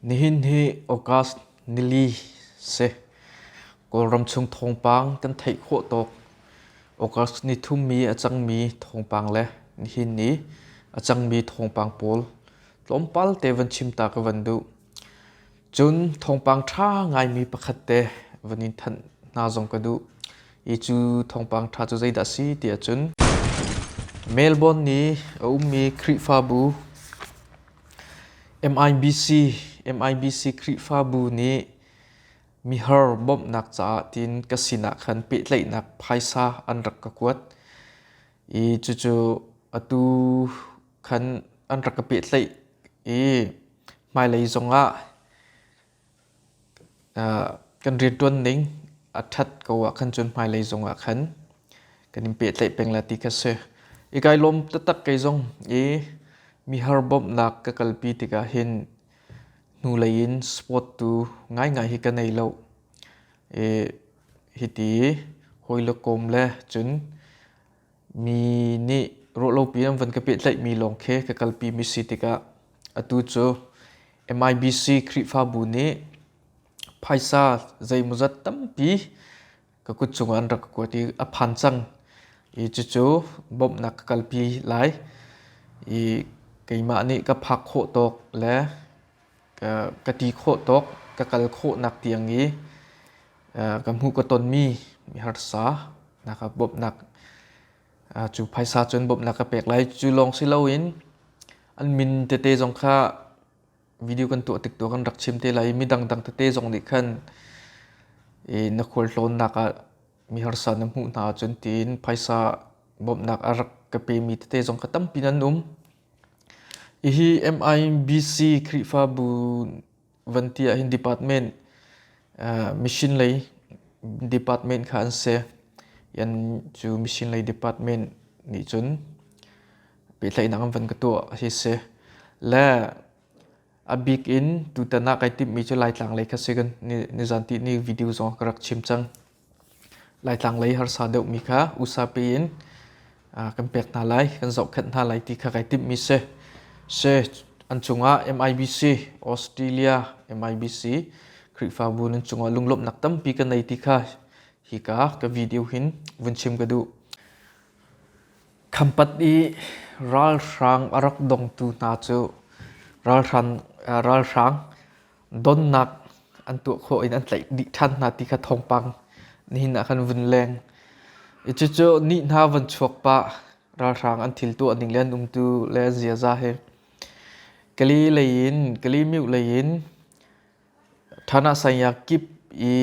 Nihin hi August nili si. Kawlram chung thawngpang kan theih khawh tuk. August nithummi a cangmi thawngpang le nihin ni a cangmi thawngpang pawl tlawmpal te van chim ta ka van duh. Cun thawngpang ṭha ngaimi pakhat te van in thanh hna zong ka duh i cu thawngpang ṭha cu zeidah a si tiah cun Melbourne i a ummi Khrihfabu MIBC MIBC Khrihfabu nih mihar bawmhnak caah tiin ka sinah khan pehtlaihnak phaisa an rak ka kuat i cucu atu khan an rak ka pehtlaih i hmailei zongah kan rianṭuan ning a ṭhat ko ahkhan cun hmailei zongah khan kan in pehtlaih peng la ti kha si. I kai lawm taktak kei zong i mihar bawmhnak ka kalpi tikah hin hnulei in sport tu ngaingai hi ka nei lo. I hiti hawi le kawm le cun Mi nih rawhlopi an van ka pehtlaihmi lawng khi ka kalpi mi si tikah atu cu MIBC Khrihfabu nih phaisa zeimawzat tampi ka kut cungah an rak ka kuat i a phan cang i cucu bawmhnak ka kalpi lai i keimah nih ka phak khawh tawk le ka ti khawh tawk ka kal khawhnak tiang i ka hmuh ka tonmi harsa nak ah bawmhnak cu phaisa cun bawmhnak ka pek lai cu lawng si loin an min tete zong kha video kan tuah tik tu kan rak chim te lai i midangdang tete zong nih khan na khualtlawnnak ah mi harsa na hmuh hna ahcun tiin phaisa bawmhnak a rak ka pemi tete zong kha tampi nan um. Hihi MIBC Khrihfabu van ti ahhin department mission lei department kha an si. Yan cu mission lei department nih cun pehtlaihnak an van ka tuah hi si. Le a bik in tutan ah kai timhmi cu Laitlang lei kha si kan nizan ti ni video zong ka rak chim cang. Laitlang lei harsa deuhmi kha usape in kan pek hna lai, kan zohkhenh hna lai ti kha kai timhmi si. Si, an cungah MIBC, Australia MIBC, Khrihfabu nan cungah lunglawmhnak tampi ka nei ti kha hika ka video hin vun chim ka duh. Khampat i ralhrang a rak dongtu hna cu ralhrang, ralhrang Donnak an tuah khawh in an tlaih dih ṭhan hna ti kha thawngpang nihin ah kan vun leng i cucu ni hna van chuak pah ralhrang an thil tuah ning le an umtu le an ziaza hi Kali lei in Kali myu lei in Thana Sanya kip i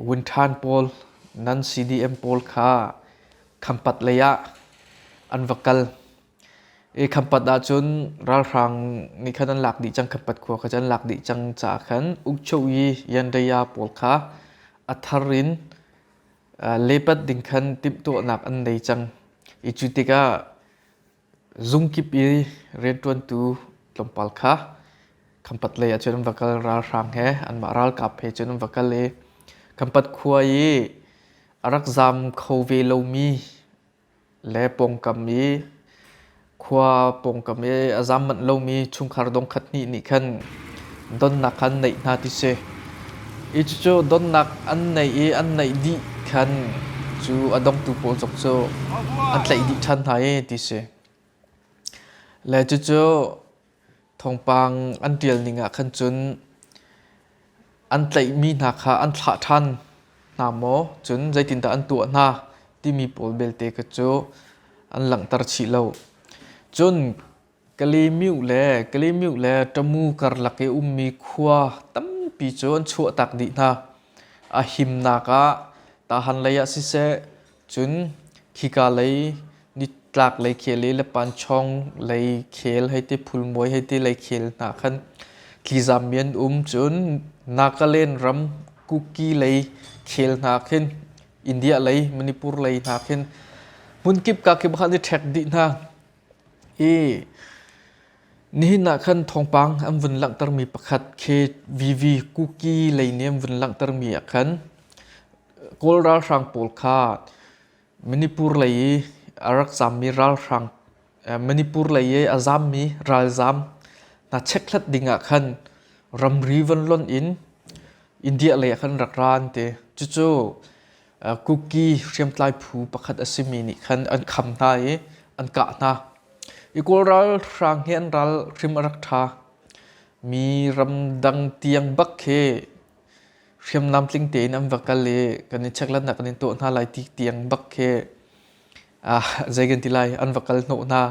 Wunṭhan pawl nan CDM pawl kha Khampat lei ah an va kal Khampat ahcun ralhrang nih khan an lak dih cang, Khampat khua kha an lak dih cang caah khan Ukchogi Yanraya pawl kha a thar in lepat ding khan timhtuahnak an nei cang i cu tikah zungkip i rianṭuantu tlawmpal kha Khampat lei ah cun an va kal, ralhrang he anmah ralkap he cun an va kal i Khampat khua i a rak zaam kho ve lomi le pawngkam i khua pawngkam i a zam manh lomi chungkhar dongkhat hnih nih khan donnak kha an neih hna ti si. I cucu donnak an neih i an neih dih khan cu a dongtu pawl zong cu an tlaih dih ṭhan hna i ti si. Le cucu Thawngpang an ṭialning ah khan cun an tlaihmi hna kha an thlah ṭhan hna maw, cun zeitindah an tuah hna timi pawl belte kha cu an langhter chih lo. Cun Kalemiu le Kalemiu le ṭamu karlak i ummi khua tampi cu an chuahtak dih hna. A himnak ah tahan leiah siseh, Cun khika lei nitlaklei khel i le panchawng lei khel hei ti phulmuai hei ti lei khel hna khan thlizam mi an um. Cun Nagaland ram Kuki lei khel hna khin India lei Manipur lei hna khin hmun kip ka kip khan i ṭhek dih hna i nihin ah khan thawngpang an vun langhtermi pakhat khi VV Kuki lei nih an vun langhtermi ah khan Kawl ralhrang pawl kha Manipur lei i a rak zammi ralhrang Manipur lei i a zammi ralzam hna chekhlat dingah khan ramri van lonh in India lei ah khan rak ra an ti. Cucu Kuki hriamtlai phu pakhat a simi nih khan an kham hna i an kah hna. I Kawl ralhrang hi an ral hrim a rak ṭha. Mi ramdang tiang bak khi hriamnam tling tein an va kal i kan i checklatnak kan in tuah hna lai ti tiang bak khi ah zei kan ti lai an va kal hnawh hna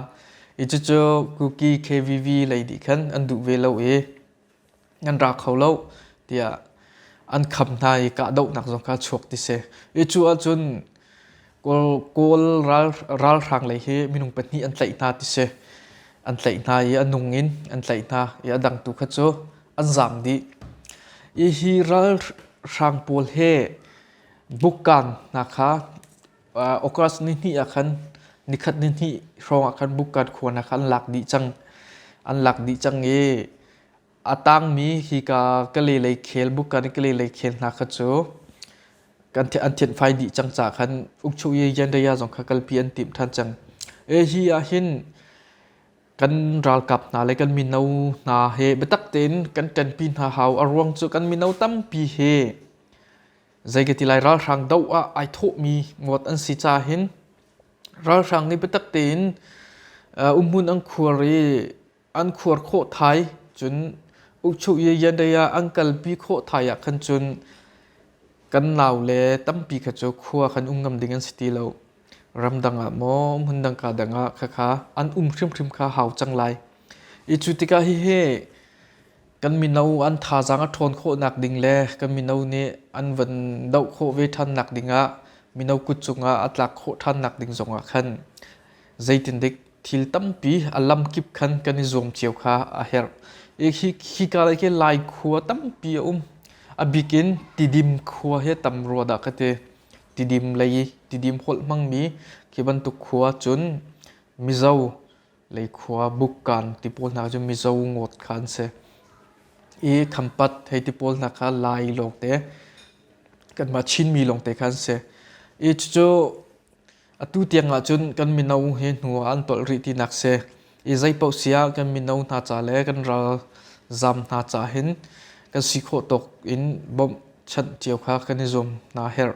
i cucu kuki kvv lei nih khan an duh ve lo i an ra kho lo tiah an kham hna i kahdohnak zong kha chuak ti si i cu ahcun Kawl ralhrang lei hi minung pahnih an tlaih hna ti si. An tlaih hna i a nung in an tlaih hna i a dang tu kha cu an zaam dih. Hi hi ralhrang pawl he bukkaan hna kha August ni hnih ah khan nikhat ni hnih hrawng ah khan bukkaan khua hna kha an lak dih cang. An lak dih cang i A tangmi hika Kalay khel bukan Kalay khel hna kha cu kan an thianh fai dih cang ca khan ukchuh ye jandaya zong kha kalpi an tim than cang e hi ah hin kan ralkap hna le kan mino hna he biatak tein kan ṭanpi hna hau a ruang cu kan mino tampi he zeikati lai ralhrang do ah ai thawhmi ngawt an si ca hin ralhrang nih biatak tein umhmun an khuar i an khuar khawh thai cun ukchuh ye yanrei ah an kalpi khawh thai ah khan cun kan nau le tampi kha cu khua khan um ngam ding an si ti lo ramdang ah maw hmun dang ka dang ah khakha an um hrimhrim kha hau cang lai i cu tikah hihi kan mino an thazaang a ṭhawn khawh nak ding le kan mino nih an van doh khawh ve ṭhan nak ding ah mino kut cungah a tlak khawh ṭhan nak ding zongah khan zeitin dik thil tampi a lamkip khan kan i zuam cio kha a herh i hi hika lei ke lai khua tampi a um a bik in tidim khua hi tam rua dah ka ti tidim lei i tidim holh hmangmi khi bantuk khua cun mizo lei khua bukkan ti pawl hna cu mizo ngot kha an si i khampat hei ti pawl hna kha lai lawng te kanmah chinmi lawng te kha an si i cucu Atu tiangah cun kan mino he hnu ah an tolh rih tinak si. I zeipaoh si ah kan mino hna ca le kan ralzam hna ca hin kan si khawh tawk in bawmh chanh cio kha kan i zuam hna a herh.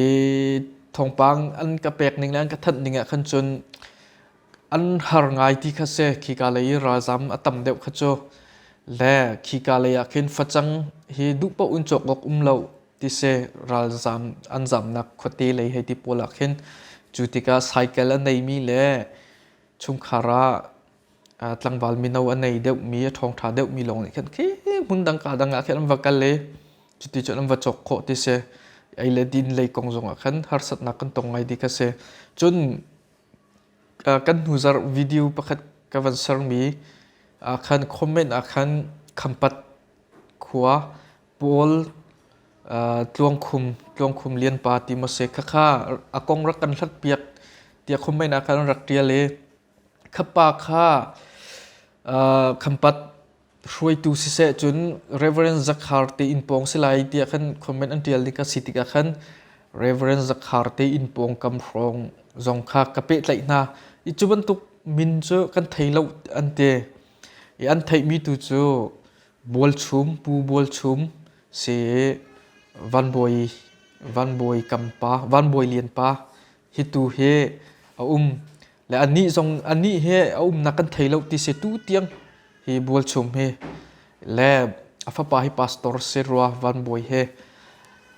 I thawngpang an ka pek ning le an ka thanh ning ah khan cun an har ngai ti kha si. Khika lei i ralzam a tam deuh kha cu. Le khika lei ah khin facang hi duhpaoh in cawk awk um lo. tiseh ralzam an zamnak khuate lei hei ti pawl ah khin cu tikah cycle a neimi le chungkhar ah uh, tlangval mino a nei deuhmi a ṭhawngṭha deuhmi lawng nih khan khi hmun dang ka dang ah khin an va kal i cuti cun an va chok khawh ti si ei le din lei kong zongah khan harsatnak kan tong ngai di kha si cun uh, kan hnuzar video pakhat ka van sermi uh, khan comment ah khan khampat khua Paul tluangkhum tluangkhum lianpa Timose kha kha a kong rak kan hlatpiak tiah khumhmainak kha an rak ṭial i khapa kha khampat hruaitu siseh cun Reverend Zakhar tein pawng si lai tiah khan comment an ṭial ding a si tikah khan Reverend Zakhar tein pawngkam hrawng zong kha ka pehtlaih hna i cu bantuk min cu kan thei lo an ti i an theihmi tu cu Bualchum Pu Bualchum si Van Bawi Lian pa hi tu hi a um le anih zong anih hi a umnak kan thei lo ti si tu tiang hi Bualchum hi le a fapa hi pastor si rua Van Bawi he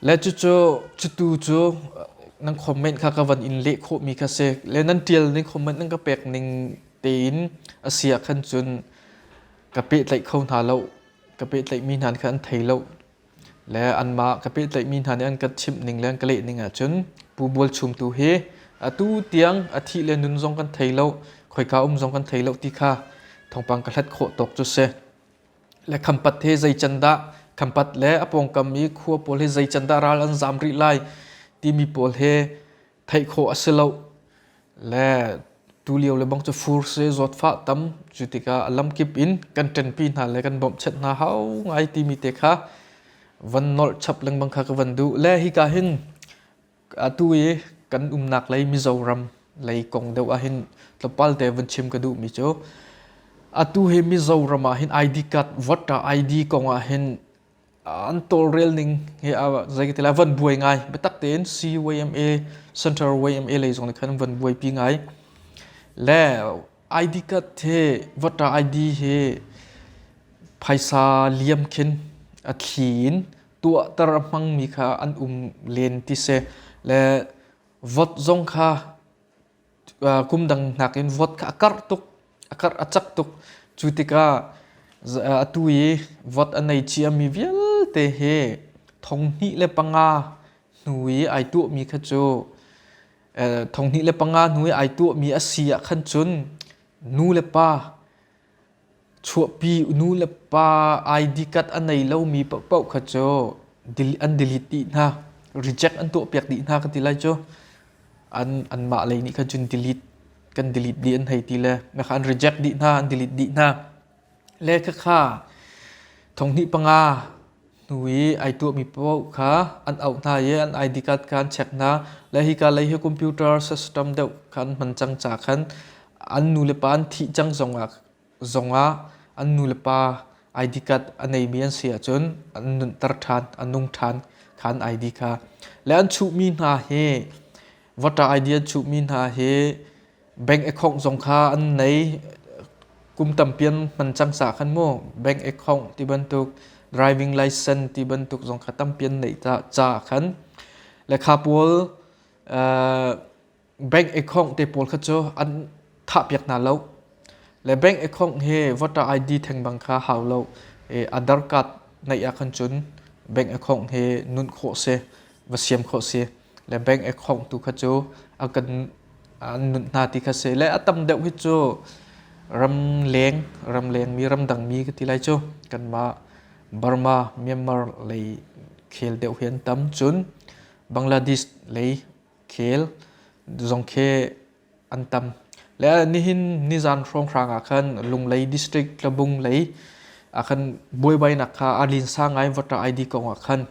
le cucu cutu cu nan comment kha ka van in leh khawhmi kha si le nan tial ning comment nan ka pek ning tein a si ah khan cun ka pehtlaih kho hna lo ka pehtlaihmi hna kha an thei lo le anmah ka pehtlaihmi hna nih an kan chimh ning le an ka leh ning ahcun Pu Bual Chum tu hi atu tiang a thih le nun zong kan thei lo khoika um zong kan thei lo ti kha thawngpang ka hlat khawh tawk cu si le khampat he zei can dah khampat le a pawngkam i khua pawl hi zei can dah ral an zam rih lai timi pawl he theih khawh a si loh. Le tulio le bang cu fur se zawtfah tam cu tikah a lamkip in kan ṭenpi hna le kan bawmhchet hna hau ngai timi te kha van nolh chap lengmang kha ka van duh. Le hika hin atu i kan umnak lei Mizoram lei kong deuh ah hin tlawmpal te van chim ka duhmi cu atu hi Mizoram ah hin ID card, voter ID kong ah hin an tawlrel ning hi zei ka ti la van buai ngai biatak tein CYMA Central YMA lei zong khan van buai pi ngai le ID card he vata ID he phaisa liam khin a thlin tuahter hmang mi kha an um len ti se le vot zong kha kum dang nakin vote kha a karh tuk, a karh a cak tuk. Cu tikah atu i vote a nei ciami vialte hi thonghnih le panga hnu i ai tuahmi kha cu thonghnih le panga hnu i ai tuahmi a si ahkhan cun nu le pa Chuahpi nu le pa ID card a nei lomi paohpaoh kha cu an delete dih hna, reject an tuahpiak dih hna ka ti lai cu. An anmah lei nih khan cun delete kan delete dih an hei ti le na kha an reject dih hna an delete dih hna. Le khakha thonghnih panga Nu i ai tuahmi paoh kha an auh hna i an ID card kha an check hna. Le hika lei hi computer system deuh kha an hman cang ca khan an nulepa an thih cang zongah zongah an nulepa ID card a neimi an si ahcun an nunter ṭhan, an nung ṭhan kha an ID kha. Le an chuhmi hna hi voter ID an chuhmi hna hi bank account zong kha an nei kum tampian hman cang sa khan mu bank account ti bantuk driving license ti bantuk zong kha tampian nei ta cha khan lekha pawl uh, bank account te pawl kha chu an tha piak na lo le bank account he voter id theng bang kha hau lo e aadhar card nei a khan chun bank account he nun kho se va siam kho se le bank a khawngtu kha cu a kan an nunh hna ti kha si le a tam deuh hi cu ramleng ramlengmi ramdangmi ka ti lai cu kanmah Burma Myanmar lei khel deuh hi an tam cun Bangladesh lei khel zong khi an tam. Le nihin nizan hrawnghrang ah khan Lunglei District Tlabung lei ah khan buaibainak kha a linsa ngai vata ID kong ah khan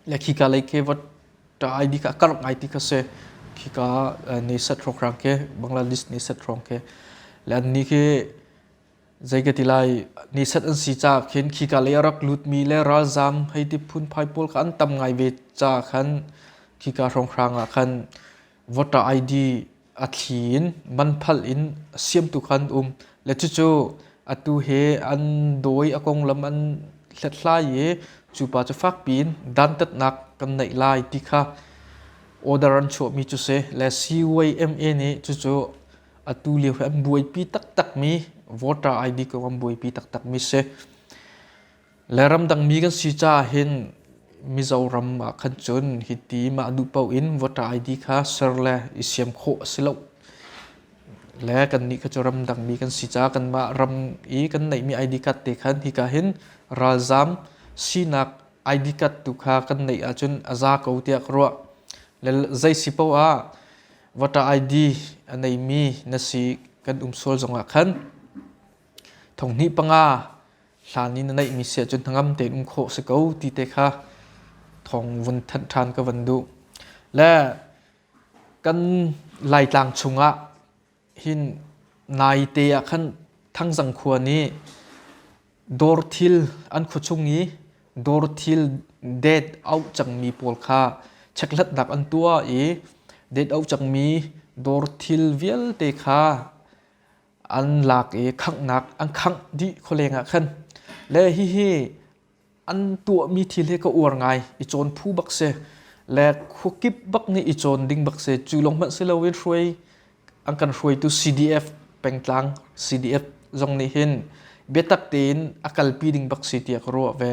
le khika lei ke vata ID kha a karh ngai ti kha si khika ni set hrawnghrang ke Bangladesh ni set hrawng ke le an ni khi zei ka ti lai ni set an si cha khin khika lei a rak lut mi le ralzam hei ti phun phai pawl kha an tam ngai ve cha khan khika hrawnghrang ah khan voter ID a thli in man phal in siam tu khan um le cucu atu he an dawi a konglam an hlethlai i cu pa cu fak piin dantatnak kan neih lai ti kha order an chuahmi cu si le CYMA nih cucu atu lio he an buaipi taktak mi voter ID kong an buaipi taktak mi si Le ramdang mi kan si caah hin Mizoram ah khan cun hiti mah duh paoh in voter ID kha ser le i siam khawh a si loh. Le kannih kha cu ramdang mi kan si caah kanmah ram i kan neihmi ID card te khan hika hin ralzaam sinak ID card tu kha kan neih ahcun a za ko tiah ka ruah. Le zei si paoh ah voter ID a neimi na si kan um sual zongah khan thonghnih panga hlan i na neihmi sia cu hnangam tein um khawh si ko ti te kha thawng vun thanh ṭhan ka van duh le kan laitlang chungah hin nai te ah khan thangzang khua nih dawr thil an khu chung i dawr thil det auh cangmi pawl kha chekhlatnak an tuah i det auh cangmi dawr thil vialte kha an lak i khanghnak an khangh dih khualeng ah khan le hihi an tuahmi thil hi ka uar ngai i cawn phu bak si le khuakip bak nih i cawn ding bak si cu lawng hmanh si loin hruai an kan hruaitu CDF pengtlang CDF zong nih hin biatak tein a kalpi ding bak si tiah ka ruah ve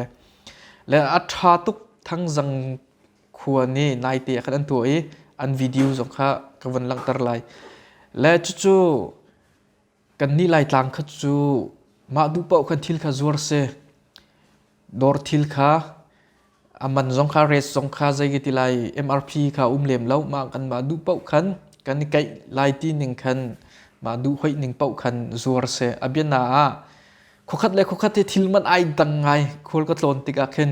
le a ṭha tuk thang zang khua nih naite ah khan an tuah i an video zong kha ka van langhter lai le cucu kannih laitlang kha cu mah duh paoh khan thil kha zuar se dawr thil kha a man zong kha rate zong kha zei ka ti lai MRP kha um lem lo mah kan mah duh paoh khan kan i kaih lai ti ning khan mah duh hoih ning paoh khan zuar se a biana ah khokhat le khokhat hi thil man ai dang ngai khol ka tlon tik ah khin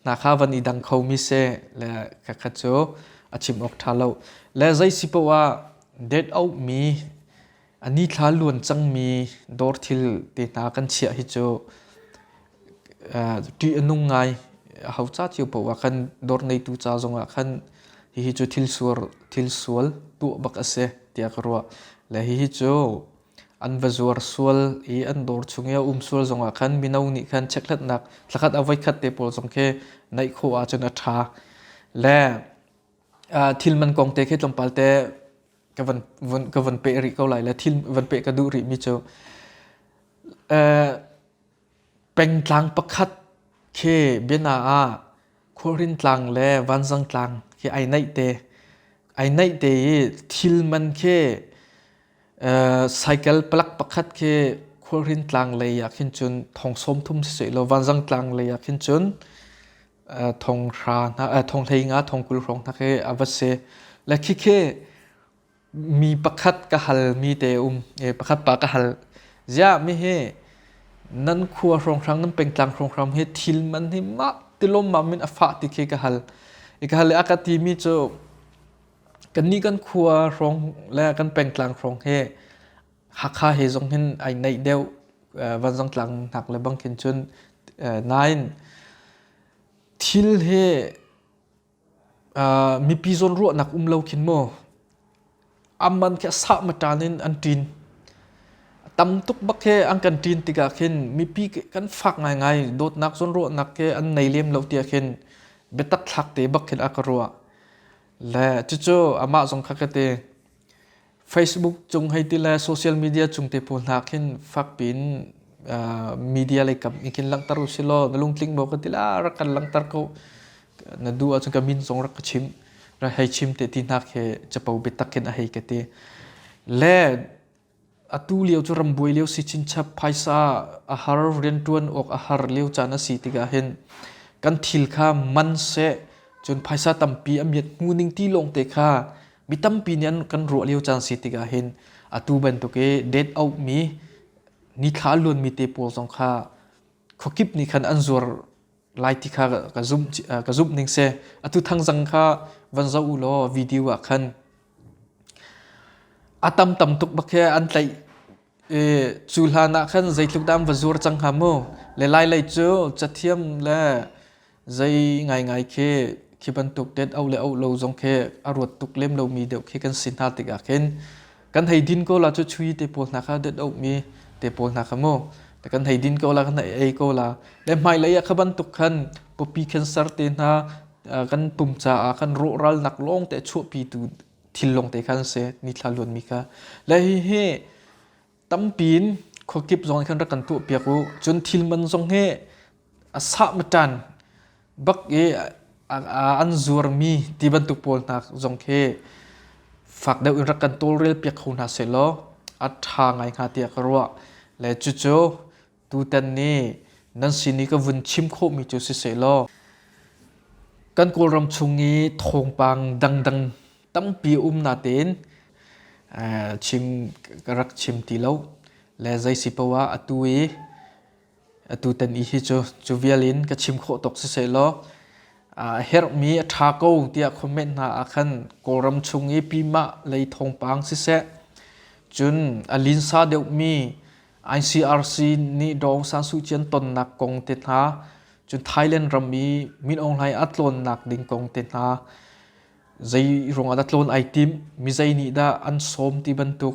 hna kha van i dang khomi seh le kakhat cu a chim awk ṭha lo le zei si poah det auhmi a nithla luan cangmi dawr thil te hna kan chiah hi cu ṭih a nung ngai a hau ca cio poah khan dawr ngeitu ca zongah khan hihi cu thil sual thil sual tuah bak a si tiah ka ruah le hihi cu an va zuar sual i an dawr chung i a um sual zongah khan mino nih khan checkhlatnak thlakhat a voikhat te pawl zong khi naih khawh ahcun a ṭha le thil man kong te khi tlawmpal te ka van ka van peh rih ko lai le thil van peh ka duh rih mi cu Pengtlang pakhat khi biana ah khualrin tlang le vanzang tlang khi ai naih te. Ai naih te i thil man khi cycle palak pakhat khi khualrin tlang lei ah khin cun thong sawm thum siseh law vanzang tlang lei ah khin cun thong hrang hna thong hlei nga thong kul hrawng hna khi a va si. Le khikhi Mi pakhat ka halmi te um. E, pakhat pa ka hal. Ziah mi hi nan khua hrawnghrang, nan pengtlang hrawnghrang hi thil man hi mak tilom mamin a fah ti khi ka hal. I ka hal i a ka timi cu kannih kan khua hrawng le kan pengtlang hrawng hi Hakha he zong hin ai neih deuh vanzang tlang hnak le bangkhin cun. Nain thil hi mipi zawn ruahnak um lo khin maw amman khi a sah maṭan in an ṭin tam tuk bak hi an kan ṭin tikah khin mipi kan fak ngaingai dawtnak zawn ruahnak hi an nei lem lo tiah khin biatak thlak te bak khin a ka ruah le cucu amah zong kha ka ti Facebook cung hei ti le social media cung te pawl hna khin fakpin uh, media lei kam in kin langtar u silo na lungtling mo ka tila rak kan langtar ko na du a chung ka min song rak ka chim ra hei chim te ti hnak he chapo bitakin a hei ka te le atu liu chu rambuai liu si chin chap phaisa a har rian tuan ok a har liu chan a si tiga hin kan thil kha man se chun phaisa tampi a miet hmu ning ti long te kha mi tampi nih an kan ruah lio caan si tikah hin atu bantuk i dead out mi nithla luan mi te pawl zong kha khuakip nih khan an zuar lai ti kha ka zumh ka zumh ning se atu thang zang kha van zo u law video ah khan a tam tam tuk bak he an tlaih e cu hlan ah khan zeitluk dam va zuar cang ha mu le lai lei cu cathiam le Zei ngaingai khi khi bantuk tet au le au lo zong khi a ruat tuk lem lomi deuh khi kan si hna tikah khin kan hei din ko la cu chui te pawl hna kha det auhmi te pawl hna kha mu kan hei din ko la kan hei ei ko la le hmailei ah kha bantuk khan pupi cancer te hna kan pum caah kan rawhral nak lawng te chuahpi tu thil lawng te khan se ni thla luan mi kha le hi hi tampi in khuakip zong khan rak kan tuah piak u cun thil man zong hi a sah matan bak i an zuarmi ti bantuk pawl hna zong khi fak deuh in rak kan tawlrel piak kho hna seh law a tha ngai hnga tiah ka ruah le cucu Tutan nih nan sin i ka vun chim khawhmi cu si sehlaw kan Kawlram chung i thawngpang dangdang tampi a um natein eh, chim ka rak chim ti lo le zei si poah atu i atu tan i hi cu cu vial in ka chim khawh tok si sehlaw a herhmi a ṭha ko tiah comment hna ah khan Kawlram chung i pimah lei thawngpang siseh cun a linsa deuhmi ICRC nih Dawng San Suu Kyi an tonnak kong te hna, cun Thailand ram i Min Aung Hlaing a tlawnnak ding kong te hna, zei ruangah dah tlawn ai tim, mi zei nih dah an sawm ti bantuk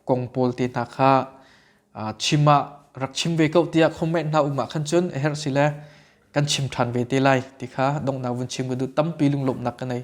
kong pawl te hna kha uh, chim ah rak chim ve ko tiah comment hna um ah khan cun a herh si le kan chim ṭhan ve te lai ti kha donghnak vun chim ka duh tampi lunglawmhnak ka nei.